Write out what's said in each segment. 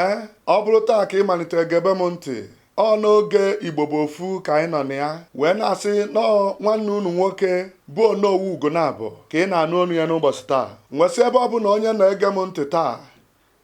ee ọ bụrụ taa ka ị malitere gebe m ntị ọ n'oge igbo bụ ofu ka anyị nọ na ya wee na-asị nnọọ nwanne unu nwoke bụ onowu ugonabọ ka ị na-anụ onu ya n'ụbọchị taa nwesị ebe ọbụna onye nọ ege m ntị taa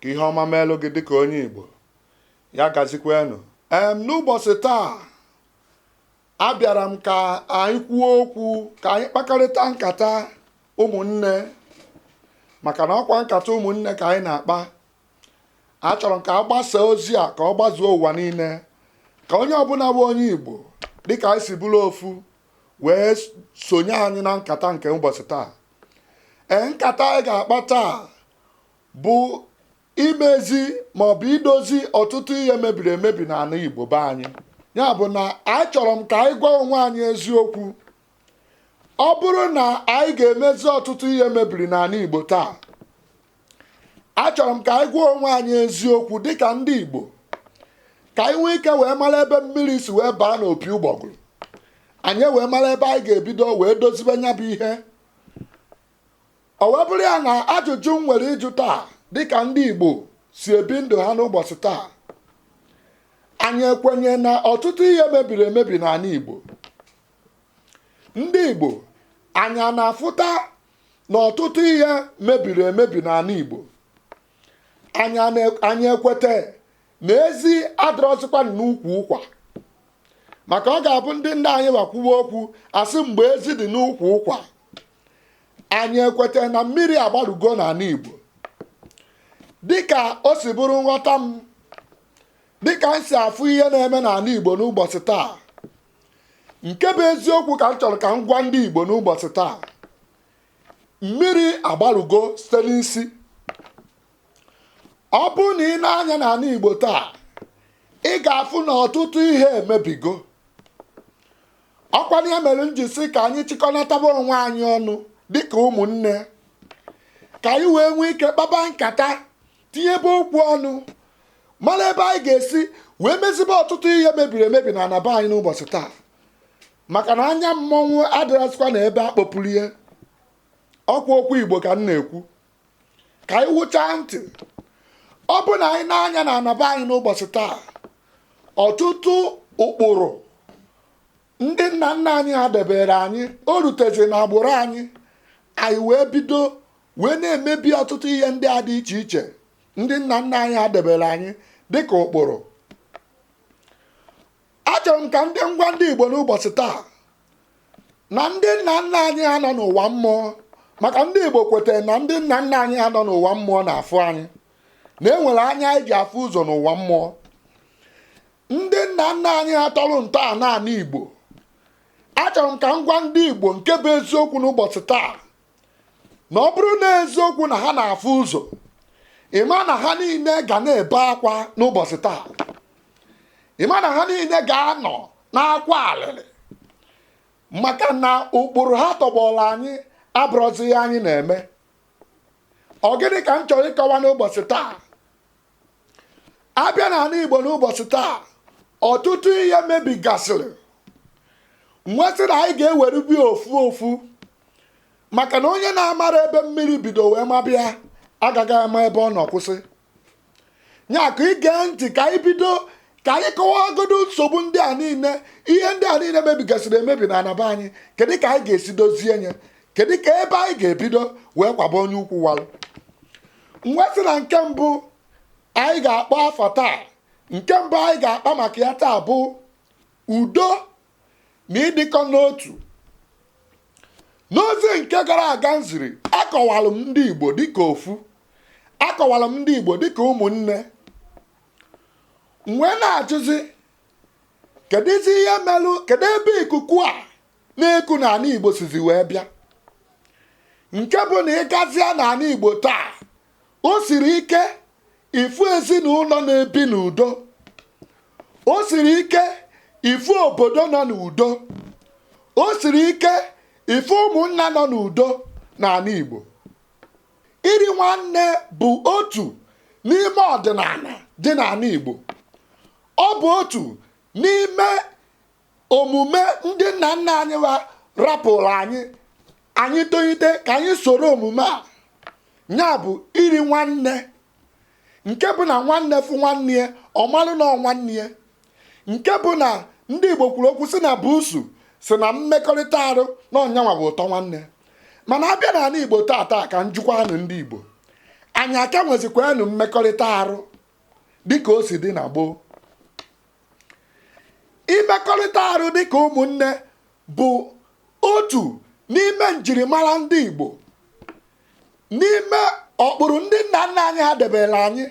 ka ihe ọma meelụ gị dịka onye igbo ya gazikwanụ ee n'ụbọchị taa abịara m ka anyị kwuo okwu ka anyị kpakọrịta nkata ụmụnne maka na ọkwa nkata ụmụnne ka anyị na-akpa achọrọ m ka a gbasaa ozi a ka ọ gbazuo ụwa niile ka onye ọbụla bụ onye Igbo dịka anyị si bụrụ ofu wee sonye anyị na nkata nke ụbọchị taa ee nkata anyị ga-akpa taa bụ imezi maọbụ idozi ọtụtụ ihe mebiri emebi n'ala Igbo be anyị ya bụ na achọrọ m ka anyị gwa onwe anyị eziokwu ọ bụrụ na anyị ga-emezi ọtụtụ ihe mebiri n'ala Igbo taa achọrọ m ka anyị gwa onwe anyị eziokwu dịka ndị Igbo ka anyị nwee ike wee mara ebe mmiri si wee baa n'opi ụgbọgụrụ anyị wee mara ebe anyị ga-ebido wee dozibe nya bụ ihe ọ wee bụrụ ya na ajụjụ m nwere ịjụ taa dịka ndị Igbo si ebi ndụ ha n'ụbọchị taa anyị ekwenye na ọtụtụ ihe mebiri emebi n'ala Igbo ndị Igbo anyị a na-afụta na ọtụtụ ihe mebiri emebi n'ala Igbo anyị ekweta na ezi adịrọzikwa n'ukwu ụkwa maka ọ ga-abụ ndị nna anyị wa kwuwe okwu a sị mgbe ezi dị n'ukwu ụkwa anyị ekweta na mmiri agbarugo n'ala Igbo dịka o si bụrụ nghọta m dịka m si afụ ihe na-eme n'ala Igbo n'ụbọchị taa nke bụ eziokwu ka m chọrọ ka m gwa ndị Igbo n'ụbọchị taa mmiri agbarugo site n'isi ọ bụrụ na ị nee anya n'ala Igbo taa ị ga-afụ na ọtụtụ ihe emebigo ọkwa nya mere m ji sị ka anyị chịkọnataba onwe anyị ọnụ dịka ụmụnne ka anyị wee nwee ike kpaba nkata tinyebe okwu ọnụ mara ebe anyị ga-esi wee mezibe ọtụtụ ihe mebiri emebi n'ana be anyị n'ụbọchị taa maka na anya mmọnwụ adịrọzikwa na ebe a kpọpụrụ ya ọkwa okwu igbo ka m na-ekwu ka anyị wụchaa ntị ọ bụ na anyị nee anya n'ana be anyị n'ụbọchị taa ọtụtụ ụkpụrụ ndị nna nna anyị ha debere anyị o rutezi na agbụrụ anyị anyị wee bido wee na-emebi ọtụtụ ihe ndị a dị iche iche ndị nna nna anyị ha debere anyị dịka ụkpụrụ achọrọ m ka ndị m gwa ndị Igbo n'ụbọchị taa na ndị nna nna anyị ha nọ n'ụwa mmụọ maka ndị Igbo kwetara na ndị nna nna anyị ha nọ n'ụwa mmụọ na-afụ anyị na enwere anya anyị ji afụ ụzọ n'ụwa mmụọ ndị nna nna anyị ha tọrọ ntọala ala Igbo achọrọ m ka m gwa ndị Igbo nke bụ eziokwu n'ụbọchị taa na ọ bụrụ na eziokwu na ha na-afụ ụzọ ị ma na ha niile ga na-ebe akwa n'ụbọchị taa ị ma na ha niile ga-anọ n'akwa alịrị maka na ụkpụrụ ha tọgbọrọ anyị abụrọzi ihe anyị na-eme ọ gịnị ka m chọrọ ịkọwa n'ụbọchị taa abịa n'ala Igbo n'ụbọchị taa ọtụtụ ihe mebigasịrị m wee sị na anyị ga-ewere bi ofu ofu maka na onye na-amarọ ebe mmiri bido wee maba ya agaghị ama ebe ọ nọ kwụsị ya ka i gee ntị ka anyị bido ka anyị kọwagodo nsogbu ndị a niile ihe ndị a niile mebigasịrị emebi na ana be anyị kedu ka anyị ga-esi dozie nye kedu ka ebe anyị ga-ebido wee kwaba onye ukwu walụ m wee sị na nke mbụ anyị ga-akpọ afa taa nke mbụ anyị ga-akpa maka ya taa bụ udo na ịdịkọ n'otu n'ozi nke gara aga m ziri akọwalụ m ndị Igbo dịka ofu akọwalụ m ndị Igbo dịka ụmụnne m wee na-ajụzi kedụzi ihe melụ kedu ebe ikuku a na-eku na ala Igbo sizi wee bịa nke bụ na ị gazia n'ala Igbo taa o siri ike ịfụ ezinụlọ na-ebi n'udo o siri ike ịfụ obodo nọ n'udo o siri ike ịfụ ụmụnna nọ n'udo n'ala Igbo iri nwanne bụ otu n'ime ọdịnala dị n'ala Igbo ọ bụ otu n'ime omume ndị nna nna anyị wa rapụrụ anyị anyị tolite ka anyị soro omume a ya bụ iri nwanne nke bụ na nwanne fụ nwanne ya ọ malụ na ọ nwanne ya nke bụ na ndị Igbo kwuru okwu sị na buusu sị na mmekọrịta arụ na ọ nyanwa bụ ụtọ nwanne mana abịa n'ala Igbo taata ka m jụkwanụ ndị Igbo anyị a ka nwezikwanụ mmekọrịta arụ dịka o si dị na gboo imekọrịta arụ dịka ụmụnne bụ otu n'ime njirimara ndị Igbo n'ime ụkpụrụ ndị nna nna anyị ha debere anyị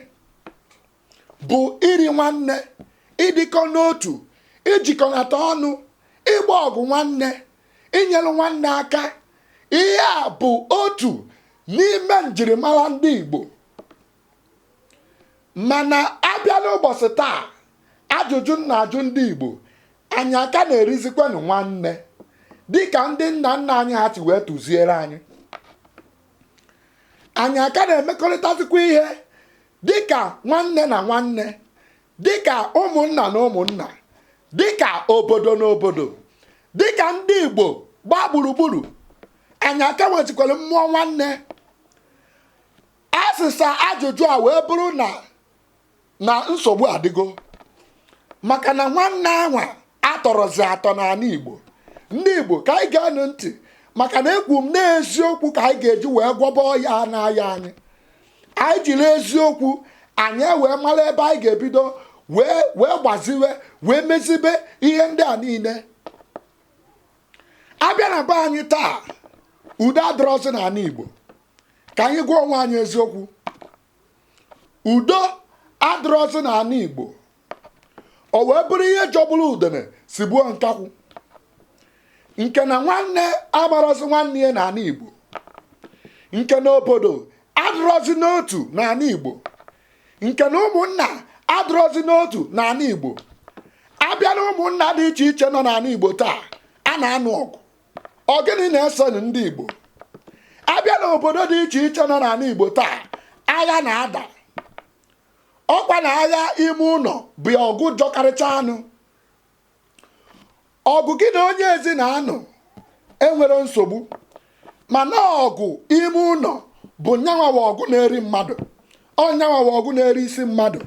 bụ iri nwanne ịdịkọ n'otu ijikọnata ọnụ ịgba ọgụ nwanne inyere nwanne aka ihe a bụ otu n'ime njirimara ndị Igbo mana a bịa n'ụbọchị taa ajụjụ m na-ajụ ndị Igbo anyị a ka na-erizikwanụ nwanne dịka ndị nna nna anyị ha si wee tụziere anyị anyị a ka na-emekọrịtazikwa ihe dịka nwanne na nwanne dịka ụmụnna na ụmụnna dịka obodo na obodo dịka ndị Igbo gbaa gburugburu anyị a ka nwezikwara mmụọ nwanne asịsa ajụjụ a wee bụrụ na nsogbu adịgo maka na nwanne anwa atọrọzi atọ n'ala Igbo ndị Igbo ka anyị geenụ ntị maka na ekwu m na eziokwu ka anyị ga-eji wee gwọba ọya na-aya anyị anyị jiri eziokwu anyị wee mara ebe anyị ga-ebido wee gbaziwe wee mezibe ihe ndị a niile a bịa na be anyị taa udo adịrọzi n'ala Igbo ka anyị gwa onwe anyị eziokwu udo adịrọzi n'ala Igbo o wee bụrụ ihe jọgburu udene sigbuo nkakwụ nke na nwanne amarọzi nwanne ya n'ala Igbo nke na obodo adịrọzi n'otu n'ala Igbo nke na ụmụnna adịrọzi n'otu n'ala Igbo a bịa na ụmụnna dị iche iche nọ n'ala Igbo taa a na-anụ ọgụ ọ gịnị na-esenụ ndị Igbo a bịa n'obodo dị iche iche nọ n'ala Igbo taa agha na-ada ọkwa na agha ime ụlọ bụ ọgụ jọkarịcha anụ ọgụ gị na onye ezi na-anụ enwerọ nsogbu mana ọgụ ime ụlọ bụ nyanwa bụ ọgụ na-eri mmadụ ọ nyanwa bụ ọgụ na-eri isi mmadụ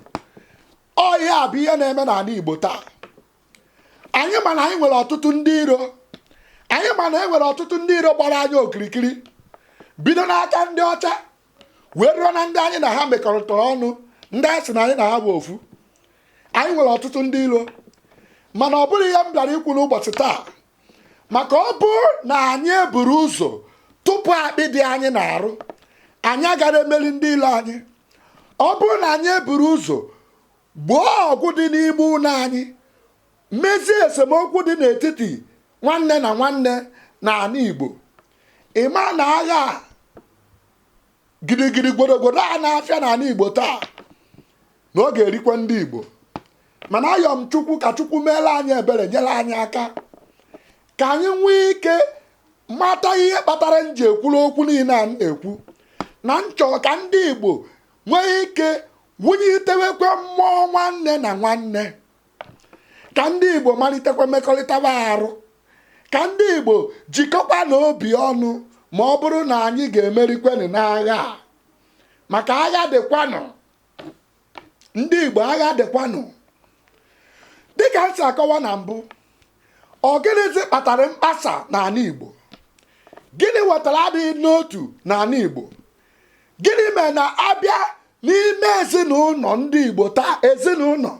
ọ ya bụ ihe na-eme n'ala Igbo taa anyị ma na anyị nwere ọtụtụ ndị iro anyị ma na e nwere ọtụtụ ndị iro gbara anyị okirikiri bido n'aka ndị ọcha wee ruo na ndị anyị na ha mekọrịtara ọnụ ndị anyị sị na anyị na ha bụ ofu anyị nwere ọtụtụ ndị iro mana ọ bụrọ ihe m bịara ikwu n'ụbọchị taa maka ọ bụrụ na anyị eburọ ụzọ tụpụ akpị dị anyị n'arụ anyị agarọ emeli ndị ilo anyị ọ bụrụ na anyị eburọ ụzọ Gboo ọgụ dị n'ime ụlọ anyị. Mezie esemokwu dị n'etiti nwanne na nwanne n'ala Igbo. Ị ma na agha gidigidi gwodogwodo a na-afịa n'ala Igbo taa na ọ ga-erikwa ndị Igbo mana ayọ m Chukwu ka Chukwu meere anyị ebere nyere anyị aka ka anyị nwee ike mata ihe kpatara m ji ekwuru okwu niile a m na-ekwu na m chọ ka ndị Igbo nwee ike wunitewekwe mmụọ nwanne na nwanne ka ndị Igbo malitekwa mekọrịtawa arụ ka ndị Igbo jikọkwanụ obi ọnụ ma ọ bụrụ na anyị ga-emerikwenụ n'agha a maka agha dịkwanụ ndị Igbo agha dịkwanụ dịka m si akọwa na mbụ ọ gịnịzi kpatara mkpasa n'ala Igbo gịnị wetara adịghị n'otu n'ala Igbo gịnị mere na abịa n'ime ezinụlọ ndị igbo taa ezinụlọ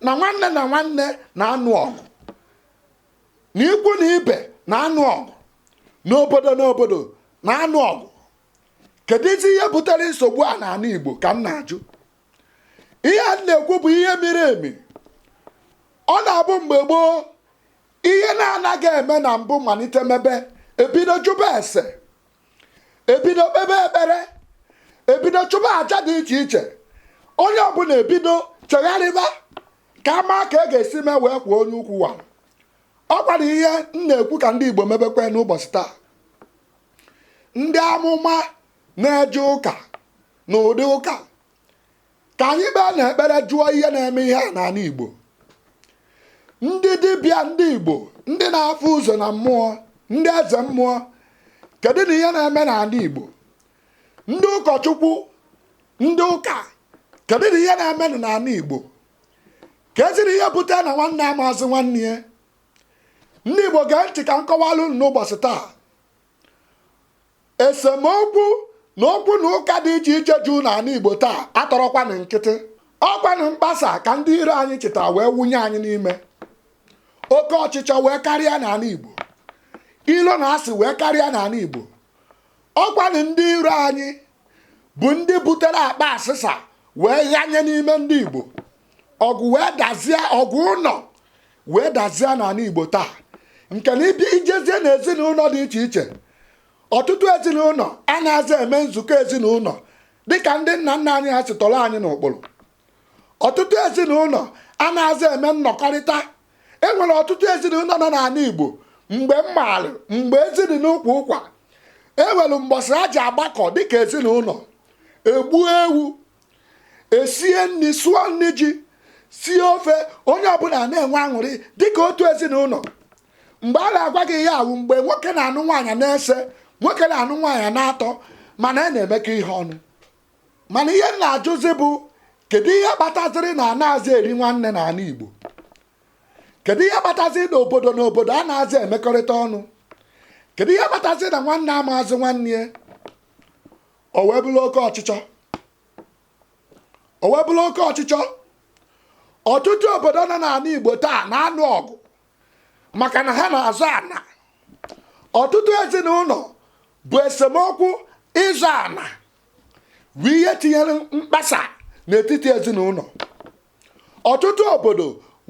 na nwanne na nwanne na-anụ ọgụ na ikwu na ibe na-anụ ọgụ na obodo na obodo na-anụ ọgụ keduzi ihe butere nsogbu a n'ala igbo ka m na-ajụ ihe m na-ekwu bụ ihe miri emi ọ na-abụ mgbe gboo ihe na-anaghị eme na mbụ malite mebe ebido jụba ese ebido kpebe ekpere ebido chụba aja dị iche iche onye ọbụla ebido chegharịba ka a maa ka e ga-esi mee wee kwuo onye ukwu a ọkwanụ ihe m na-ekwu ka ndị Igbo mebekwe n'ụbọchị taa ndị amụma na-eje ụka na ụdị ụka ka anyị baa na ekpere jụọ ihe na-eme ihe a n'ala Igbo ndị dibịa ndị Igbo ndị na-afụ ụzọ na mmụọ ndị eze mmụọ kedunụ ihe na-eme n'ala Igbo ndị ụkọchukwu ndị ụka kedunụ ihe na-eme n'ala Igbo keduzi ihe bute na nwanne amaazị nwanne ya ndị Igbo gee ntị ka m kọwalụ ụnụ n'ụbọchị taa Esemokwu na okwu na ụka dị iche iche juu na ala Igbo taa atọrọkwanụ nkịtị. Ọkwanụ mkpasa ka ndị iro anyị chịta wee wụnye anyị n'ime. Oke ọchịchọ wee karịa n'ala Igbo. Ilo na asị wee karịa n'ala Igbo. Ọkwanụ ndị iro anyị bụ ndị butere akpa asịsa wee ghanye n'ime ndị Igbo. Ọgụ wee dazie ọgụ ụlọ wee dazie n'ala Igbo taa nke na ịbịa ijezie na ezinụlọ dị iche iche ọtụtụ ezinụlọ anaghịzi eme nzukọ ezinụlọ dịka ndị nna nna anyị ha si tọrọ anyị n'ụkpụrụ ọtụtụ ezinụlọ anaghịzi eme nnọkọrịta enwere ọtụtụ ezinụlọ nọ n'ala Igbo mgbe m maara mgbe ezi dị n'ukwu ụkwa enwelu mbọsị a ji agbakọ dịka ezinụlọ egbuo ewu esie nri sụọ nri ji sie ofe onye ọbụla na-enwe aṅụrị dịka otu ezinụlọ mgbe a na-agwa gị ya wụ mgbe nwoke na-anụ nwaanyị n'ise nwoke na-anụ nwaanyị n'atọ mana a na-emekọ ihe ọnụ mana ihe m na-ajụzi bụ kedu ihe kpataziri na anaghịzi eri nwanne n'ala Igbo kedu ihe kpataziri na obodo na obodo anazị emekọrịta ọnụ kedu ihe kpataziri na nwanne amaazị nwanne ya o wee bụrụ oke ọchịchọ o wee bụrụ oke ọchịchọ ọtụtụ obodo nọ n'ala igbo taa na-anụ ọgụ maka na ha na-azọ ana ọtụtụ ezinụlọ bụ esemokwu ịzọ ana wụ ihe tinyere mkpasa n'etiti ezinụlọ ọtụtụ obodo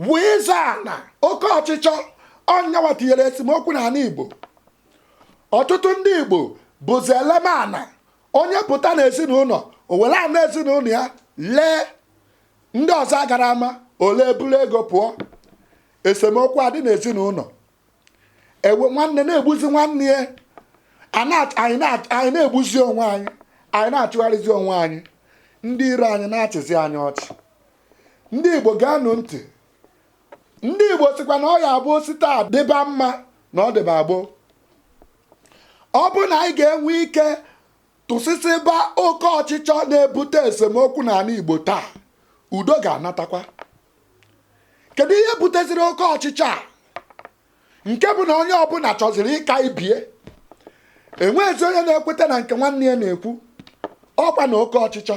wụ ịzọ ana oke ọchịchọ ọ ya nwa tinyere esemokwu n'ala igbo ọtụtụ ndị igbo bụzi ele m ana onye pụta na ezinụlọ o were ana ezinụlọ ya lee ndị ọzọ agara ama o lee buru ego pụọ esemokwu adị n'ezinụlọ ewe nwanne na-egbuzi nwanne ya anyị na-egbuzi onwe anyị anyị na-achụgharịzi onwe anyị ndị iro anyị na-achịzi anyị ọchị ndị igbo geenụ ntị ndị igbo sịkwa na ọ ya bụ o si taa dịba mma na ọ dịba gboo ọ bụrụ na anyị ga-enwe ike tụsịsịba oke ọchịchọ na-ebute esemokwu n'ala igbo taa udo ga-anatakwa kedu ihe buteziri oke ọchịchọ a nke bụ na onye ọbụla chọziri ịka ibie enwezi onye na-ekweta na nke nwanne ya na-ekwu ọkwa na oke ọchịchọ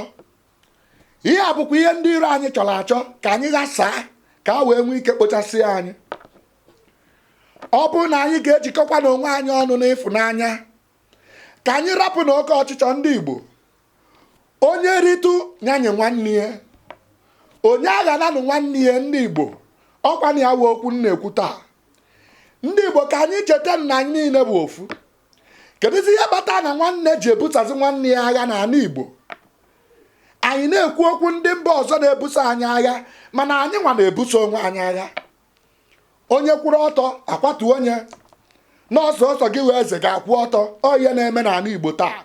ihe a bụkwa ihe ndị iro anyị chọrọ achọ ka anyị ghasaa ka a wee nwee ike kpochasịa anyị ọ bụrụ na anyị ga-ejikọkwa n'onwe anyị ọnụ n'ịfụnanya ka anyị rapụ na oke ọchịchọ ndị Igbo onye ritụ nyenye nwanne ya onye aghananụ nwanne ya ndị Igbo ọkwa na ya wụ okwu m na-ekwu taa ndị Igbo ka anyị cheta na anyị niile bụ ofu kedụzi ihe kpata na nwanne ji ebusozi nwanne ya agha n'ala Igbo anyị na-ekwu okwu ndị mba ọzọ na-ebuso anyị agha mana anyị nwa na-ebuso onwe anyị agha onye kwụrụ ọtọ akwatu onye na ọ sọsọ gị wụ eze ga-akwụ ọtọ ọ ihe na-eme n'ala Igbo taa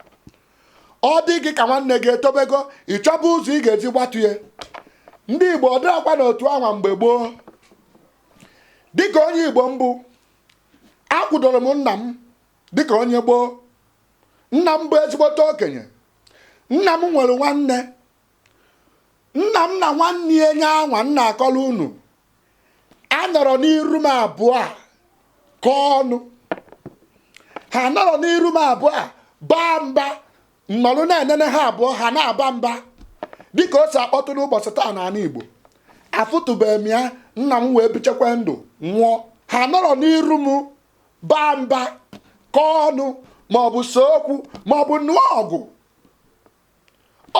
ọ dị gị ka nwanne gị etobego ị chọba ụzọ ị ga-eji gbatu ya ndị Igbo ọ dịrakwa n'otu anwa mgbe gboo dịka onye Igbo m bụ akwụdoro m nna m dịka onye gboo nna m bụ ezigbote okenye nna m nwere nwanne nna m na nwanne ya nye anwa m na-akọrọ unu anọrọ n'iru m abụọ akọọ ọnụ ha anọrọ n'iru m abụọ abaa mba nnọrụ na-enene ha abụọ ha na-aba mba dịka o si akpọtụ n'ụbọchị taa n'ala Igbo afụtụbeghị m ya nna m wee bichekwa ndụ nwụọ ha nọrọ n'iru m baa mba kọọ ọnụ maọbụ see okwu maọbụ nụọ ọgụ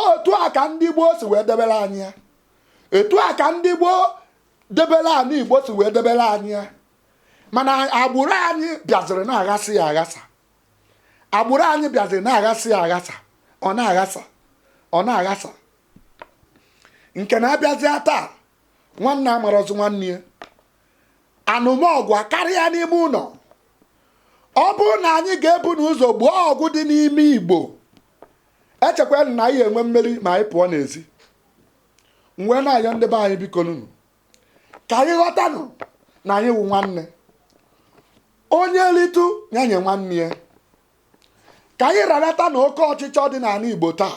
otu a ka ndị gboo si wee debere anyị ya etu a ka ndị gboo debere anị Igbo si wee debere anyị ya mana agbụrụ anyị bịaziri na-aghasị ya aghasa agbụrụ anyị bịaziri na-aghasị ya aghasa ọ na-aghasa ọ na-aghasa nke na a bịazịa taa nwanne amarọzi nwanne ya anụmọgụ akarịa n'ime ụlọ ọ bụrụ na anyị ga-ebu n'ụzọ gboo ọgụ dị n'ime Igbo echekwa m na anyị ya-enwe mmeri ma anyị pụọ n'ezi m wee na-ayọ ndị be anyị bikonụnụ ka anyị ghọtanụ na anyị wụ nwanne onye ritụ ya nye nwanne ya ka anyị ranatanụ oke ọchịchọ dị n'ala Igbo taa